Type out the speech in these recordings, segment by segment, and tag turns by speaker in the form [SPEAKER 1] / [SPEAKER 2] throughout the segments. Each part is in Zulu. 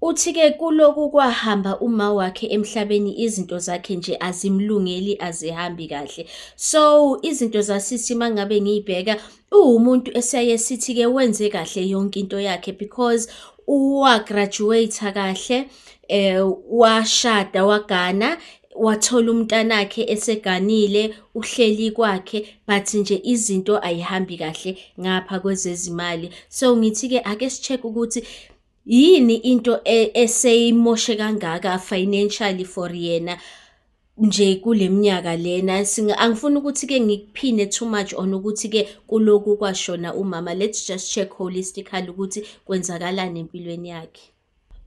[SPEAKER 1] Uthi ke kuloku kwahamba uma wakhe emhlabeni izinto zakhe nje azimlungeli azihambi kahle. So izinto zasisi mangabe ngiyibheka uwumuntu esaye sithi ke wenze kahle yonke into yakhe because uwa graduate kahle eh washada wagana wathola umntanakhe eseganile uhleli kwakhe but nje izinto ayihambi kahle ngapha kwezezimali so ngithi ke ake sicheck ukuthi yini into e, eseyimoshe kangaka financially for yena nje kule minyaka lena angifuni ukuthi-ke ngikuphine too much on ukuthi-ke kuloku kwashona umama let's just check holistically ukuthi kwenzakalani empilweni yakhe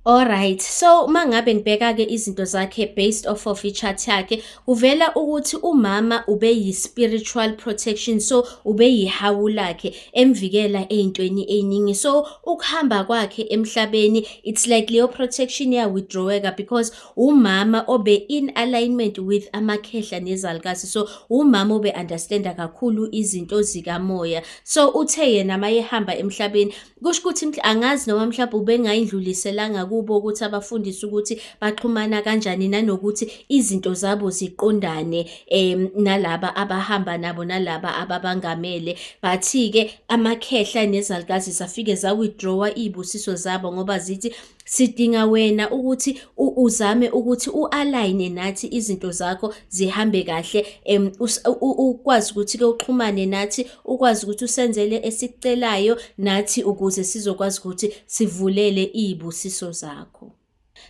[SPEAKER 1] Alright, so uma ngabe ngibheka-ke izinto zakhe based off of i-chart yakhe kuvela ukuthi umama ube yi-spiritual protection so ube yihawu lakhe emvikela ey'ntweni ey'ningi so ukuhamba kwakhe emhlabeni it's like leyo protection ya-withdraweka because umama obe in alignment with amakhehla nezalukazi so umama obe-understanda kakhulu izinto zikamoya so uthe yena mayehamba emhlabeni Kusho ukuthi angazi noma mhlawumbe ubengayindluliselanga kubo ukuthi abafundise ukuthi baxhumana kanjani nanokuthi izinto zabo ziqondane um nalaba abahamba nabo nalaba ababangamele but-ke amakhehla nezalukazi zafike za-withdraw-a iy'busiso zabo ngoba zithi Sidinga wena ukuthi uzame ukuthi u-align nathi izinto zakho zihambe kahle um ukwazi ukuthi-ke uxhumane nathi ukwazi ukuthi usenzele esikucelayo nathi ukuze sizokwazi ukuthi sivulele iy'busiso zakho.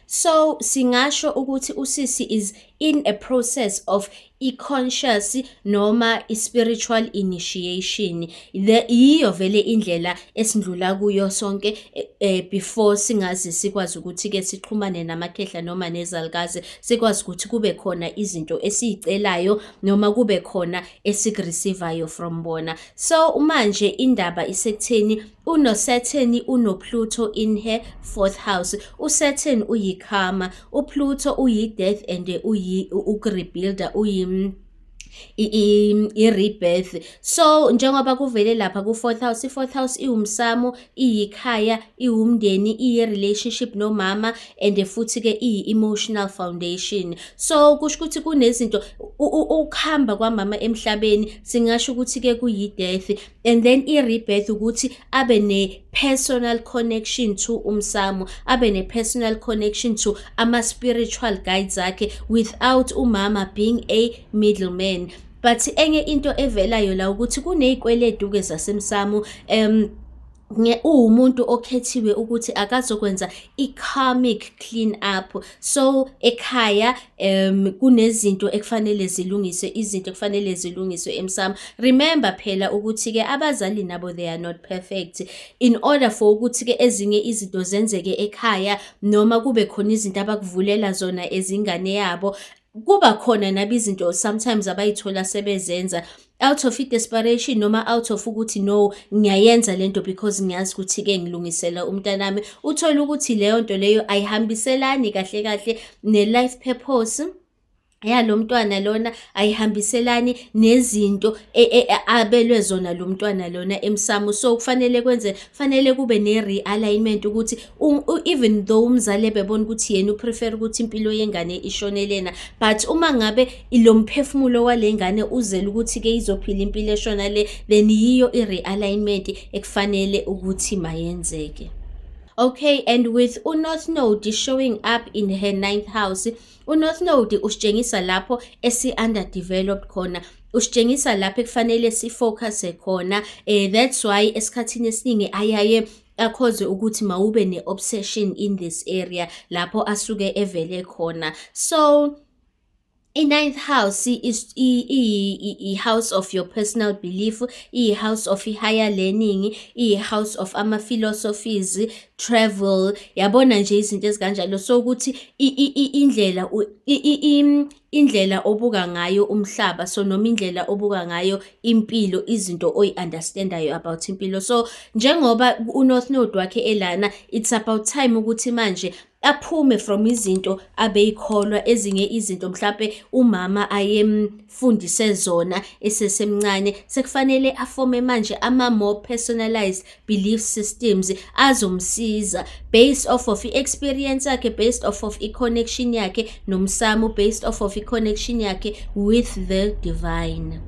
[SPEAKER 1] So singasho ukuthi usisi is in a process of i-conscious noma i-spiritual initiation the yiyo vele indlela esindlula kuyo sonke eh, eh before singazi sikwazi ukuthi ke sixhumane namakhehla noma nezalukazi sikwazi ukuthi kube khona izinto esizicelayo noma kube khona esikureceivayo from bona so uma nje indaba isekutheni UnoSaturn unoPluto in her fourth house. USaturn uyiKarma, uPluto uyiDeath and uyi ukuRebuilder uyi i-rebirth so njengoba kuvele lapha ku-fourth house i-fourth house iwumsamo iyikhaya iwumndeni iye-relationship nomama and futhi-ke iyi-emotional foundation so kusho ukuthi kunezinto ukuhamba kwamama emhlabeni singasho ukuthi-ke kuyi-death and then i-rebirth ukuthi abe ne-personal connection to umsamo abe ne-personal connection to ama-spiritual guides akhe without umama being a middleman but enye into evelayo la ukuthi kuney'kweletu-ke zasemsamo um uwumuntu okhethiwe ukuthi akazokwenza i-karmic clean up so ekhaya um kunezinto ekufanele zilungiswe izinto ekufanele zilungiswe emsamo remember phela ukuthi-ke abazali nabo they are not perfect in order for ukuthi-ke ezinye izinto zenzeke ekhaya noma kube khona izinto abakuvulela zona ezingane yabo kuba khona nabi izinto sometimes abayithola sebezenza out of i-desperation noma out of ukuthi no ngiyayenza lento because ngiyazi ukuthi-ke ngilungisela umntanami uthole ukuthi leyo nto leyo ayihambiselani kahle kahle ne-life purpose yalo mntwana lona ayihambiselani nezinto e, e, e, abelwe zona lo mntwana lona emsamo so kufanele kwenze fanele kube ne-realignment ukuthi even though umzali ebebona ukuthi yena uprefer ukuthi impilo yengane ishone lena but uma ngabe lo mphefumulo wale ngane uzele ukuthi-ke izophila impilo eshona le then yiyo i-realignment ekufanele ukuthi mayenzeke okay and with unorth node showing up in her ninth house unorth node usitshengisa lapho esi-underdeveloped khona usitshengisa lapho ekufanele sifocuse khona um that's why esikhathini esiningi ayaye akhozwe ukuthi mawube ne-obsession in this area lapho asuke evele khona so i-ninth house iyi-house of your personal belief iyi-house of i-higher learning iyi-house of ama-philosophies travel yabona nje izinto ezikanjalo so ukuthi indlela indlela obuka ngayo umhlaba so noma indlela obuka ngayo impilo izinto oyi-understandayo about impilo so njengoba unorth node wakhe elana it's about time ukuthi manje aphume from izinto abeyikholwa ezinye izinto mhlampe umama ayemfundise zona esesemncane sekufanele afome manje ama more personalized belief systems azomsiza based off of i-experience yakhe based off of i-connection yakhe nomsamo based off of i-connection yakhe with the divine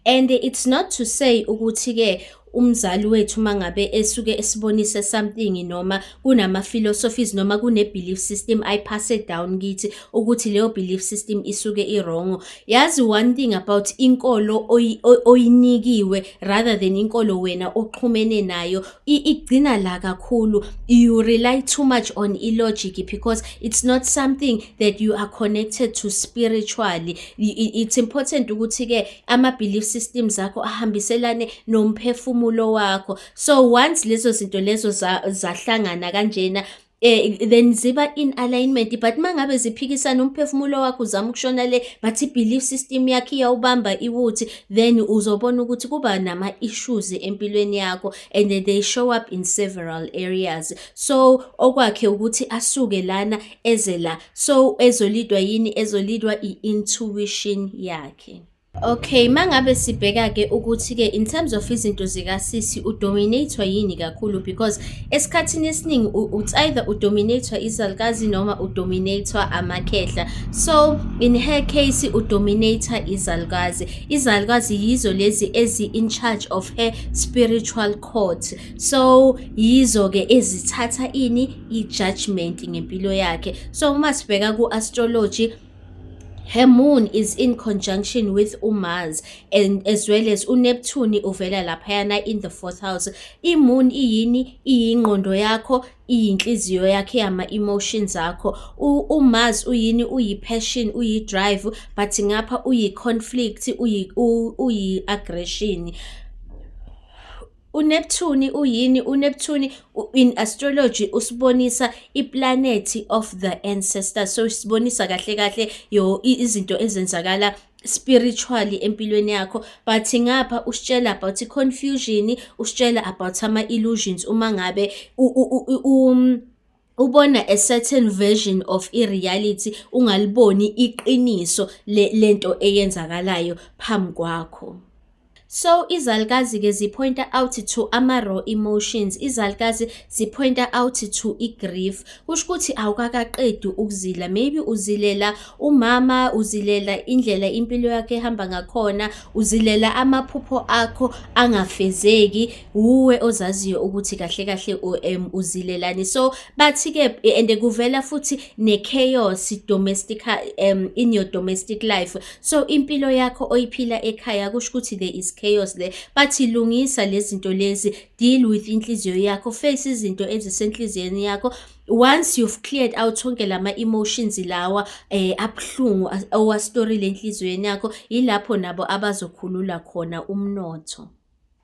[SPEAKER 1] and it's not to say ukuthi-ke umzali wethu mangabe esuke esibonise something noma kunama philosophies noma kune belief system i pass it down kithi ukuthi leyo belief system isuke i wrong yazi one thing about inkolo oyinikiwe rather than inkolo wena oxhumene nayo igcina la kakhulu you rely too much on i logic because it's not something that you are connected to spiritually it's important ukuthi ke ama belief systems akho ahambiselane nomphefumulo wakho so once leso zinto lezo zahlangana kanjena eh then ziba in alignment but mangabe ziphikisana umphefumulo wakho uzama ukushona le but belief system yakhe iyawubamba iwuthi then uzobona ukuthi kuba nama issues empilweni yakho and they show up in several areas so okwakhe ukuthi asuke lana eze la so ezolidwa yini ezolidwa i intuition yakhe Okay, mangabe sibheka ke ukuthi ke in terms of izinto zika sisi u dominator yini kakhulu because esikhathini esiningi it's either u dominator izalukazi noma u dominator amakhehla. So in her case u dominator izalukazi. Izalukazi yizo lezi ezi in charge of her spiritual court. So yizo ke ezithatha ini i judgment ngempilo yakhe. So uma sibheka ku astrology Her moon is in conjunction with uMars and as well as uNeptune uvela laphayana in the fourth house. IMoon iyini? Iyingqondo yakho, iyinhliziyo yakhe yama-emotions akho umas uyini uyi-passion uyi-drive but ngapha uyi-conflict uyi-aggression uyi UNeptune uyini? UNeptune in astrology usibonisa iplanethi of the ancestors. So sibonisa kahle kahle yo izinto ezenzakala spiritually empilweni yakho but ngapha usitshela about confusion usitshela about ama illusions uma ngabe u, u, u, u um, ubona a certain version of i-reality ungaliboni iqiniso lento eyenzakalayo phambi kwakho So izalukazi ke zipointa out to ama-raw emotions, izalukazi zipointa out to i-grief. Kusho ukuthi awukakaqedi ukuzila, maybe uzilela umama, uzilela indlela impilo yakho ehamba ngakhona, uzilela amaphupho akho angafezeki. wuwe ozaziyo ukuthi kahle kahle um uzilelani so bathi-ke and kuvela futhi ne-chaos domestic um in your domestic life so impilo yakho oyiphila ekhaya kusho ukuthi there is chaos there bathi lungisa lezi zinto lezi deal with inhliziyo yakho face izinto ezisenhliziyweni yakho once you've cleared out onke lama emotions lawa eh abhlungu owa story lenhlizweni yakho yilapho nabo abazokhulula khona umnotho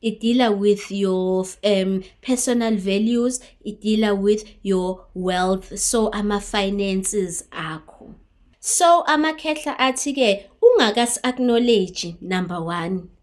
[SPEAKER 1] it dealer with your um, personal values it dealer with your wealth so ama finances akho so amakhehla athi ke ungakas acknowledge number 1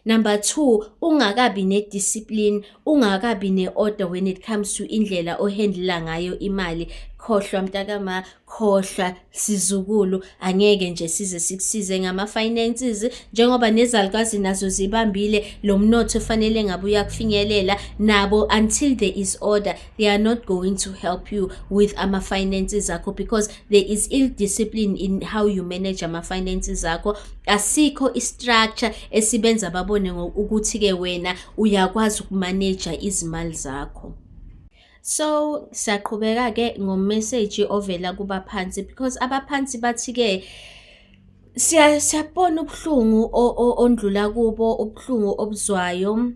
[SPEAKER 1] Number 2 ungakabi ne discipline ungakabi ne order when it comes to indlela ohandla ngayo imali khohlwa mntakama khohlwa sizukulu angeke nje size sikusize ngama finances njengoba nezalukwazi nazo zibambile lo mnotho fanele ngabe uyakufinyelela nabo until there is order they are not going to help you with ama finances akho because there is ill discipline in how you manage ama finances akho asikho istructure esibenza babone ukuthi ke wena uyakwazi ukumaneja izimali zakho So siyaqhubeka-ke ngomeseji ovela kubaphansi because abaphansi bathi-ke siyabona ubuhlungu ondlula kubo ubuhlungu obuzwayo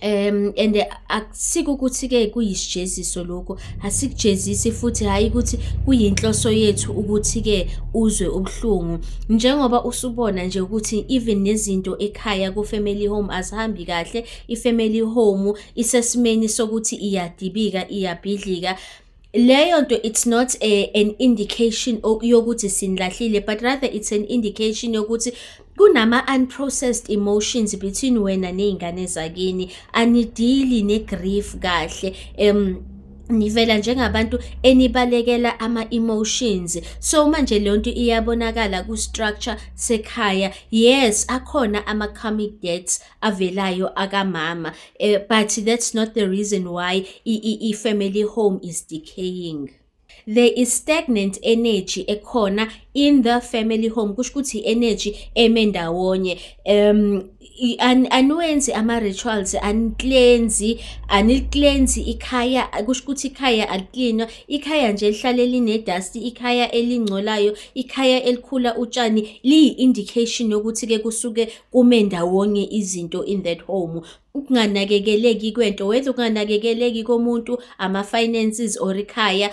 [SPEAKER 1] um and akusike ukuthi-ke kuyisijeziso lokhu asikujezisi futhi hhayi ukuthi kuyinhloso yethu ukuthi-ke uzwe ubuhlungu njengoba usubona nje ukuthi even nezinto ekhaya ku-family home azihambi kahle i-family home isesimeni sokuthi iyadibika iyabhidlika leyo nto it's not a, an indication yokuthi sinilahlile but rather it's an indication yokuthi kunama-unprocessed emotions between wena ney'ngane zakini anidili ne-grief kahle um nivela njengabantu enibalekela ama-emotions so manje leyo nto iyabonakala ku-structure sekhaya yes akhona ama-comic debts avelayo akamama uh, but that's not the reason why i-family home is decaying there is stagnant energy ekhona in the family home kusho ukuthi energy eme ndawonye um aniwenzi ama-rituals aniklenzi aniklenzi ikhaya kusho ukuthi ikhaya aliklinwa ikhaya nje lihlale linedasti ikhaya elingcolayo ikhaya elikhula utshani liyi-indication yokuthi-ke kusuke kume ndawonye izinto in that home ukunganakekeleki kwento whether ukunganakekeleki komuntu ama-finances or ikhaya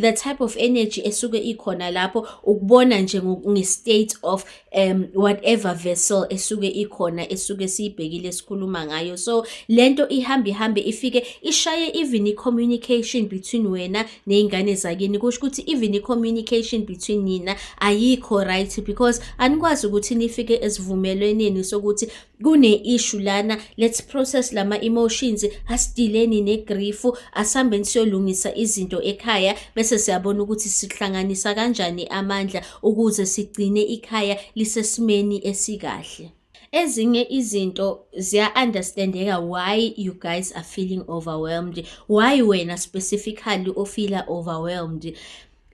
[SPEAKER 1] the type of energy esuke ikhona lapho ukubona nje nge-state of um whatever vessel esuke ikhona esuke siyibhekile sikhuluma ngayo so le nto ihambe ihambe ifike ishaye even i-communication between wena ney'ngane zakini kusho ukuthi even i-communication between nina ayikho right because anikwazi ukuthi nifike esivumelweneni sokuthi kune-issue lana let's process lama-emotions asidileni negrifu asihambeni siyolungisa izinto ekhaya bese siyabona ukuthi sihlanganisa kanjani amandla ukuze sigcine ikhaya lisesimeni esikahle ezinye izinto ziya-understandeka why you guys are feeling overwhelmed why wena specifically ofila overwhelmed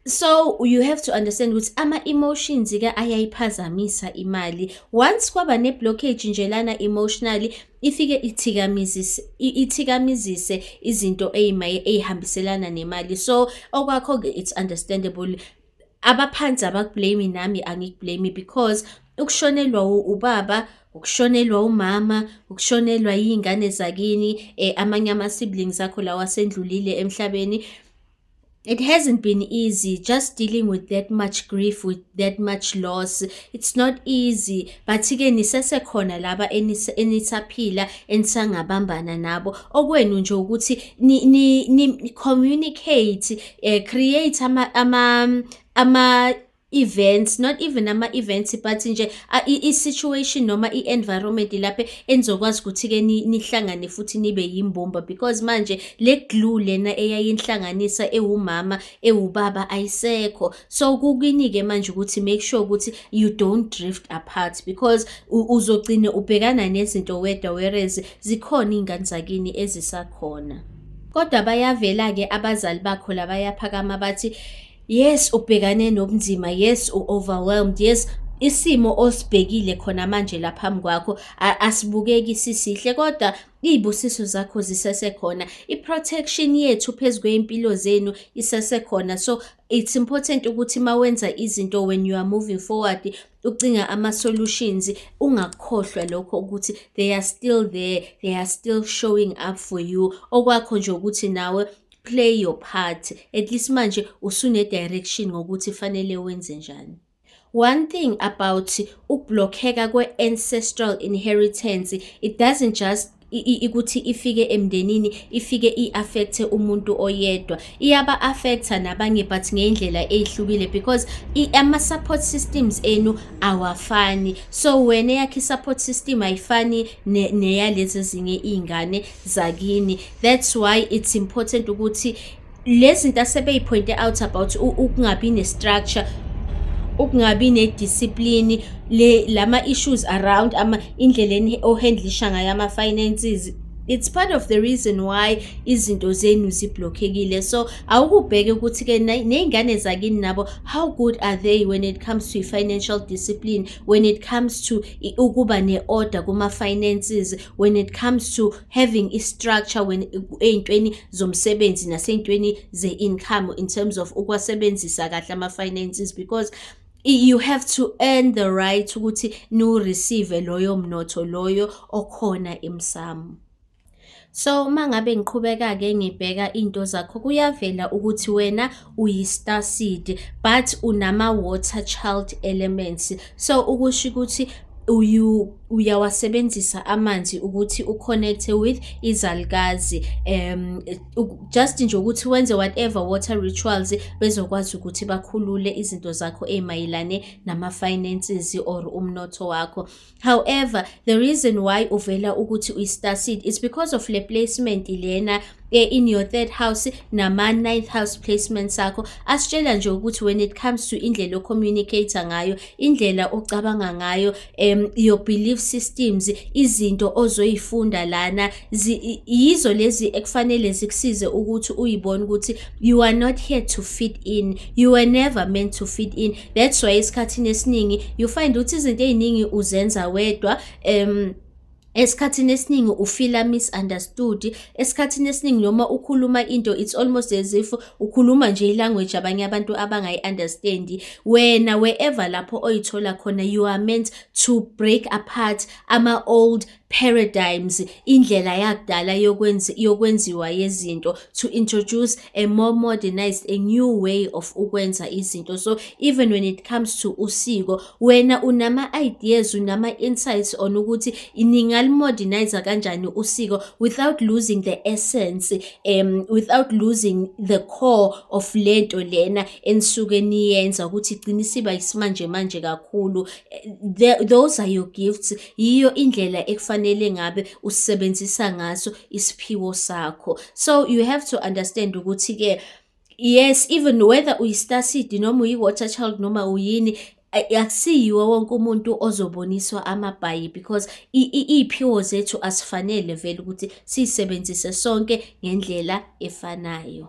[SPEAKER 1] so you have to understand ukuthi ama-emotions-ke ayayiphazamisa imali once kwaba ne-blockage nje lana emotionally ifike ithikamizise ithikamizise izinto eyimaye eyihambiselana nemali so okwakho-ke it's understandable abaphansi abakublame nami angikublame because ukushonelwa ubaba ukushonelwa umama ukushonelwa iy'ngane zakini um amanye ama-siblings akho lawa asendlulile emhlabeni it hasn't been easy just dealing with that much grief with that much loss it's not easy but ke nisesekhona laba enisaphila enisangabambana nabo okwenu nje ukuthi ni, ni, ni communicate eh create ama ama ama events not even ama events but nje i situation noma i environment lapha enizokwazi ukuthi ke nihlangane futhi nibe yimbumba because manje le glue lena eyayinhlanganisa ewumama ewubaba ayisekho so kukini ke manje ukuthi make sure ukuthi you don't drift apart because uzogcina ubhekana nezinto wedwa whereas zikhona ingane zakini ezisakhona Kodwa bayavela-ke abazali bakho la bayaphakama bathi yes ubhekane nobunzima yes u-overwhelmed yes isimo osibhekile khona manje la phambi kwakho asibukeki sisihle kodwa iy'busiso zakho zisesekhona i-protection yethu phezu kwey'mpilo zenu isesekhona so it's important ukuthi uma wenza izinto when you are moving forward ucinga ama-solutions ungakhohlwa lokho ukuthi they are still there they are still showing up for you okwakho nje ukuthi nawe play your part at least manje usune-direction ngokuthi fanele wenze njani One thing about ukublockeka kwe-ancestral inheritance, it doesn't just ikuthi ifike emndenini ifike i-affecthe umuntu oyedwa iyaba-affectha nabanye but ngeyindlela eyihlukile because ama-support systems enu awafani so wena eyakhe i-support system ayifani neyalezi ezinye iy'ngane zakini that's why it's important ukuthi lezinto asebeyiphointe out about ukungabi nestructure ukungabi nediscipline le lama issues around ama indleleni ohandlisha ngayo ama finances it's part of the reason why izinto zenu ziblockekile so awukubheke ukuthi ke nezingane zakini nabo how good are they when it comes to financial discipline when it comes to ukuba neorder kuma finances when it comes to having i structure when eyintweni zomsebenzi naseyintweni ze income in terms of ukwasebenzisa kahle ama finances because you have to earn the right ukuthi nu receive loyo mnotho loyo okhona emsamo So uma ngabe ngiqhubeka-ke ngibheka iy'nto zakho kuyavela ukuthi wena uyi-star seed but unama-water child elements so ukusho ukuthi uyu uyawasebenzisa amanzi ukuthi uconnecte with izalikazi um just nje ukuthi wenze whatever water rituals bezokwazi ukuthi bakhulule izinto zakho ezimayelane nama-finances or umnotho wakho However, the reason why uvela ukuthi uyi-star seed is because of le placement lena eh, in your third house nama-ninth house placements akho asitshela nje ukuthi when it comes to indlela ocommunicator ngayo indlela ocabanga ngayo um, your belief systems izinto ozoyifunda lana yizo lezi ekufanele zikusize ukuthi uyibone ukuthi you are not here to fit in you were never meant to fit in that's why esikhathini esiningi you find ukuthi izinto eziningi uzenza wedwa um esikhathini esiningi ufila misunderstood esikhathini esiningi noma ukhuluma into it's almost as if ukhuluma nje ilanguage abanye abantu abangayi-understandi wena wherever lapho oyithola khona you are meant to break apart ama-old paradigms indlela yakudala yokwenzi yokwenziwa yezinto to introduce a more modernized a new way of ukwenza izinto so even when it comes to usiko wena unama ideas unama insights on ukuthi ningalimodernize kanjani usiko without losing the essence um without losing the core of lento lena enisuke niyenza ukuthi igcina isiba isimanje manje kakhulu eh, those are your gifts yiyo indlela ekufanele ngabe usisebenzisa ngaso isiphiwo sakho so you have to understand ukuthi ke yes even whether uyi-star seed noma uyi-water child noma uyini akusiyiwo wonke umuntu ozoboniswa amabhayi because iy'phiwo zethu asifanele vele ukuthi siyisebenzise sonke ngendlela efanayo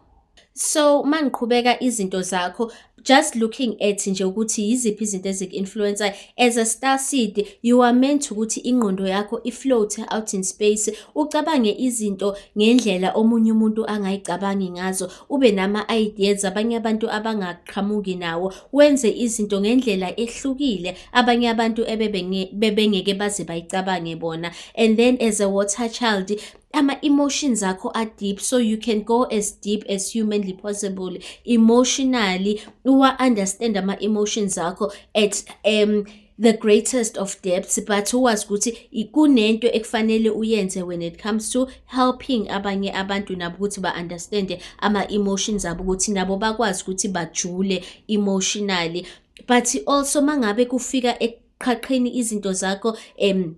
[SPEAKER 1] So uma ngiqhubeka izinto zakho just looking at nje ukuthi yiziphi izinto eziku-influencer as a star seed you are meant ukuthi ingqondo yakho i-float out in space ucabange izinto ngendlela omunye umuntu angayicabangi ngazo ube nama-ideas abanye abantu abangaqhamuki nawo wenze izinto ngendlela ehlukile abanye abantu ebebengeke baze bayicabange bona and then as a water child ama-emotions akho a-deep so you can go as deep as humanly possible emotionally uwa-understand ama-emotions akho at um the greatest of depths but uwazi ukuthi kunento ekufanele uyenze when it comes to helping abanye abantu nabo ukuthi ba-understande ama-emotions abo ukuthi nabo bakwazi ukuthi bajule emotionally but also mangabe kufika eqhaqheni izinto zakho um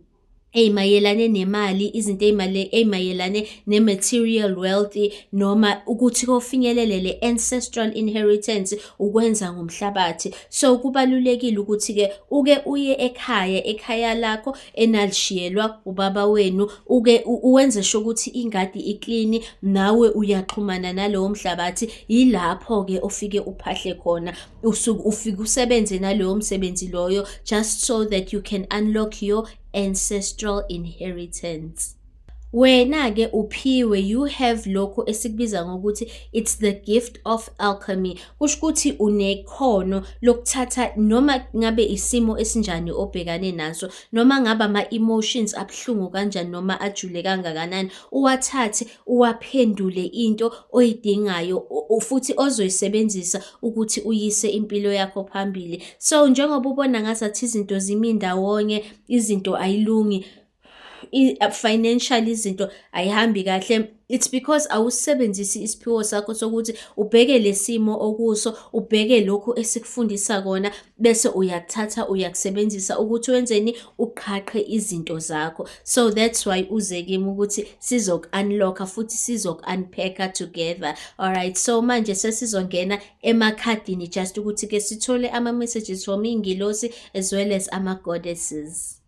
[SPEAKER 1] ey'mayelane nemali izinto ey'mayelane ne-material wealth noma ukuthi kofinyelele le ancestral inheritance ukwenza ngomhlabathi so kubalulekile ukuthi-ke uke uye ekhaya ekhaya lakho enalishiyelwa ubaba wenu uke uwenze sho ukuthi ingadi iklini nawe uyaxhumana nalowo mhlabathi yilapho-ke ofike uphahle khona usuke ufike usebenze nalowo msebenzi loyo just so that you can unlock your ancestral inheritance wena ke uphiwe you have lokho esikubiza ngokuthi it's the gift of alchemy kusho ukuthi unekhono lokuthatha noma ngabe isimo esinjani obhekane naso noma ngaba ama emotions abhlungu kanjani noma ajule kangakanani uwathathe uwaphendule into oyidingayo futhi ozoyisebenzisa ukuthi uyise impilo yakho phambili so njengoba ubona ngazathi izinto zimi ndawonye izinto ayilungi Uh, financial izinto ayihambi kahle it's because awusebenzisi isiphiwo sakho sokuthi ubheke lesimo okuso ubheke lokhu esikufundisa kona bese uyakuthatha uyakusebenzisa ukuthi wenzeni uqhaqhe izinto zakho so that's why uze kimi ukuthi sizoku-unlocka futhi sizoku-unpacka together alright so manje sesizongena emakhadini just ukuthi-ke sithole ama-messages from iy'ngilosi as well as ama-goddesses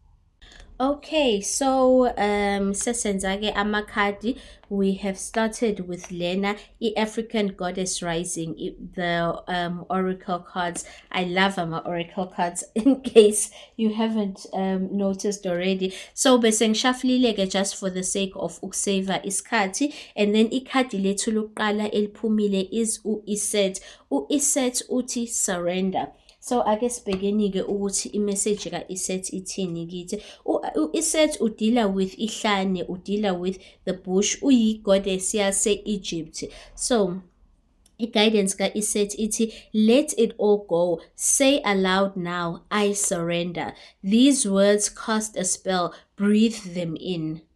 [SPEAKER 1] Okay, so um sesenza ke amakhadi we have started with lena i-African Goddess Rising i- the um oracle cards. I love ama oracle cards in case you haven't um noticed already. So bese ngishafulile ke just for the sake of ukusave isikhathi and then ikhadi lethu lokuqala eliphumile is u-Iset. U-Iset uthi surrender. So ake sibhekeni-ke ukuthi imeseji ka-Iset ithini kithi. U-Iset udila with ihlane, udila with the bush, uyi-goddess yase-Egypt. So i-guidance ka-Iset ithi let it all go say aloud now i surrender these words cast a spell breathe them in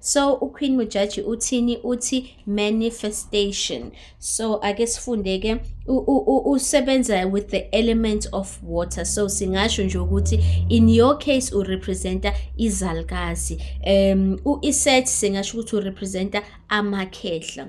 [SPEAKER 1] So uQueen Mujaji uthini uthi manifestation. So ake sifunde ke usebenza with the element of water. So singasho nje ukuthi in your case u representa izalkazi. Um u iset singasho ukuthi u representa amakhehla.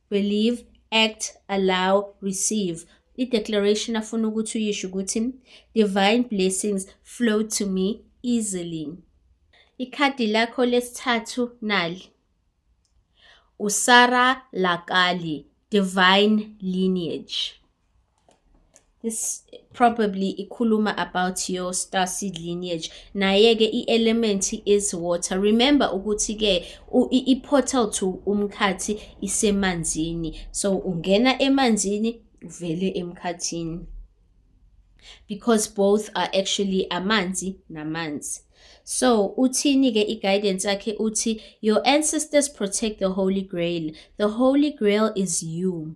[SPEAKER 1] believe act allow receive i-declaration afuna ukuthi uyisho ukuthi divine blessings flow to me easily ikhadi lakho lesithathu nali usara lakali divine lineage this probably ikhuluma about your star seed lineage naye-ke i-element is water remember ukuthi-ke i-portal to umkhathi isemanzini so ungena emanzini uvele emkhathini because both are actually amanzi namanzi so uthini-ke i-guidance yakhe uthi your ancestors protect the holy grail the holy grail is you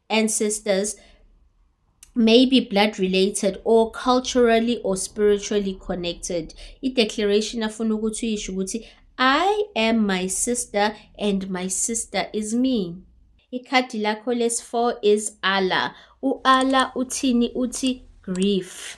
[SPEAKER 1] ancestors may be blood related or culturally or spiritually connected i-declaration afuna ukuthi uyisho ukuthi i am my sister and my sister is me ikhadi lakho lesi-4 is allah u-allah uthini uthi grief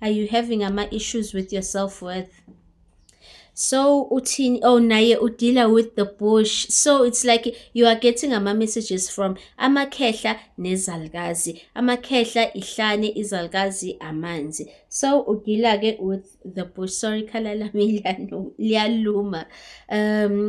[SPEAKER 1] are you having ama issues with your self worth so uthini oh naye udila with the bush so it's like you are getting ama messages from amakhehla nezalikazi amakhehla ihlane izalikazi amanzi so udila ke with the bush sorry khala lami liyaluma um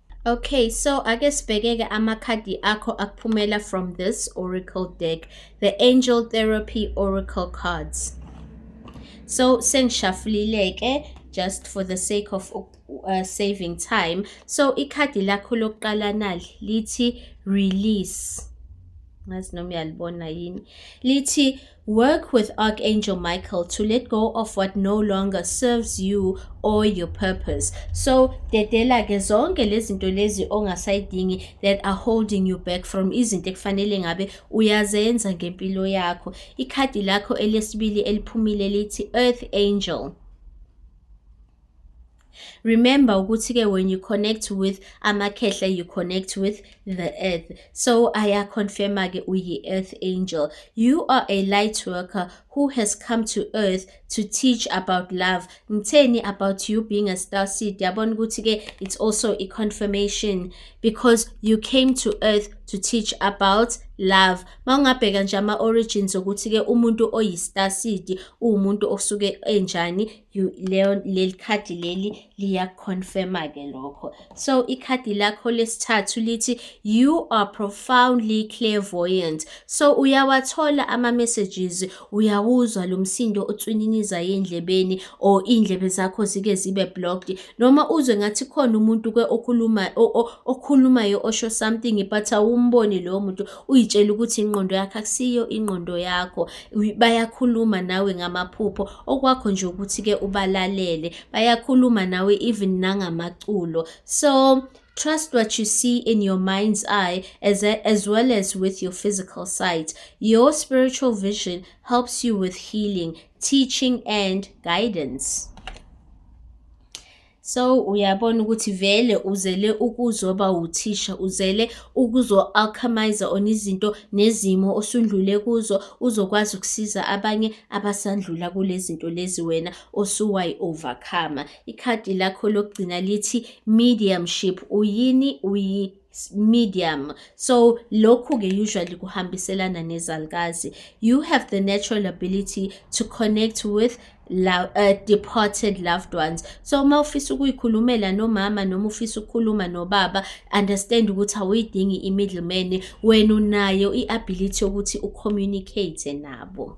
[SPEAKER 1] Okay, so ake sibhekeke amakhadi akho akuphumela from this oracle deck, the angel therapy oracle cards. So sengishafulileke just for the sake of uh, saving time. So ikhadi lakho lokuqala nali lithi release. Ngazi noma uyalibona yini. Lithi Work with Archangel Michael to let go of what no longer serves you or your purpose. So dedela ke zonke lezinto lezi ongasayidingi that are holding you back from izinto ekufanele ngabe uyazenza ngempilo yakho. Ikhadi lakho elesibili eliphumile lithi Earth Angel. Remember ukuthi ke when you connect with amakhehla you connect with the earth. So aya confirma ke uyi earth angel. You are a light worker who has come to earth to teach about love. Ngitheni about you being a star seed. Yabona ukuthi ke it's also a confirmation because you came to earth to teach about love mawungabheka nje ama origins ukuthi ke umuntu oyistar seed umuntu osuke enjani leyo leli khadi leli liyakuconfirma ke lokho so ikhadi lakho lesithathu lithi you are profoundly clairvoyant so uyawathola ama messages uyawuzwa lo msindo otswininiza endlebeni or indlebe zakho zike zibe blocked noma uzwe ngathi khona umuntu ke okhuluma okhulumayo osho something but awumboni lowo muntu uyitshela ukuthi inqondo yakhe akusiyo inqondo yakho bayakhuluma nawe ngamaphupho okwakho nje ukuthi ke ubalalele bayakhuluma nawe even nangamaculo so Trust what you see in your mind's eye as, a, as well as with your physical sight. Your spiritual vision helps you with healing, teaching, and guidance. So uyabona ukuthi vele uzele ukuzoba wuthisha, uzele ukuzo-alchemize on izinto nezimo osundlule kuzo, uzokwazi ukusiza abanye abasandlula kule zinto lezi wena osuwayi-overcome. Ikhadi lakho lokugcina lithi mediumship, uyini uyi medium so lokhu-ke usually kuhambiselana nezalukazi you have the natural ability to connect with love, uh, departed loved ones so uma ufisa ukuyikhulumela nomama noma ufisa ukukhuluma nobaba understand ukuthi awuyidingi i-middleman wena unayo i-ability yokuthi ucommunicate nabo